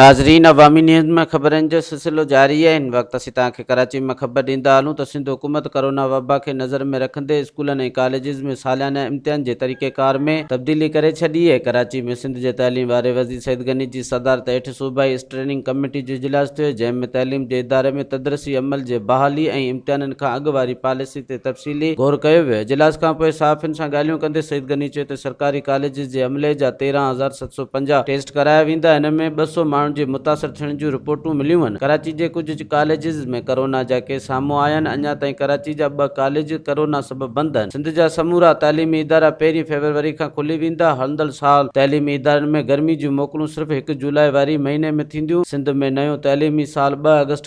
ناظرين عوامي نيوز ۾ خبرن جو سلسلو جاري آهي هن وقت اسين توهان کي ڪراچي مان خبر ڏيندا هلون ته سنڌ حڪومت ڪورونا وبا کي نظر ۾ رکندي اسڪولن ۽ ڪاليجز ۾ ساليانه امتحان جي طريقي ڪار ۾ تبديلي ڪري ڇڏي آهي ڪراچي ۾ سنڌ جي تعليم واري وزير سعيد غني جي صدارت هيٺ صوبائي اسٽريننگ ڪميٽي جو اجلاس ٿيو جنهن ۾ تعليم جي اداري ۾ تدرسي عمل جي بحالي ۽ امتحانن کان اڳ واري پاليسي تي تفصيلي غور ڪيو ويو. اجلاس کان پوء صحافين سان ڳالهيون ڪندي سعيد غني چيو ته سرڪاري ڪاليجز جي عملي جا تيرهن هزار ست سؤ پنجاهه ٽيسٽ ڪرايا ويندا ان ۾ ٻه سؤ ماڻهن جي متاثر ٿيڻ جون رپورٽون مليون آهن ڪراچي جي ڪجهه ڪاليجز ۾ ڪرونا جا ڪيس سامهون آيا آهن اڃا تائين ڪراچي جا ٻه ڪاليج ڪرونا سبب بند آهن سنڌ جا سمورا تعليمي ادارا پهرين فيبروري کان کلي ويندا هلندڙ سال تعليمي ادارن ۾ گرمي جون موڪلون صرف هڪ جولاء واري مهيني ۾ ٿينديون سنڌ ۾ نيون تعليمي سال ٻه آگسٽ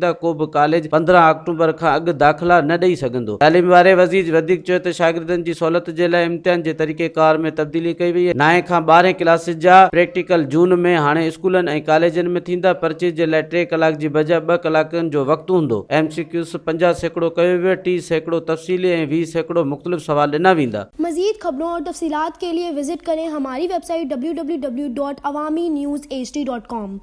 ته ڪو به ڪاليج پندرهن آڪٽوبر کان اڳ داخلا نه ڏئي سگهندو. تعليم واري وزير وڌيڪ چيو ته شاگردن جي سهولت جي لاء امتحان جي طريقيڪار ۾ تبديلي ڪئي وئي آهي، نائين کان ٻارهين ڪلاسز جا پريڪٽيڪل جون ۾ هاڻي اسڪولن ۽ ڪاليجن ۾ ٿيندا، پرچيز جي لاء ٽي ڪلاڪ جي بجاء ٻه ڪلاڪن جو وقت هوندو، ايم سي ڪيوز پنجاهه سيڪڙو ڪيو ويو، ٽي سيڪڙو تفصيلي ۽ ويهه سيڪڙو مختلف سوال ڏنا ويندا. مزيد خبرون اور تفصيلات کے لئے وزٽ ڪرين ھماري ويب سائيٽ www.awaminews hd.com.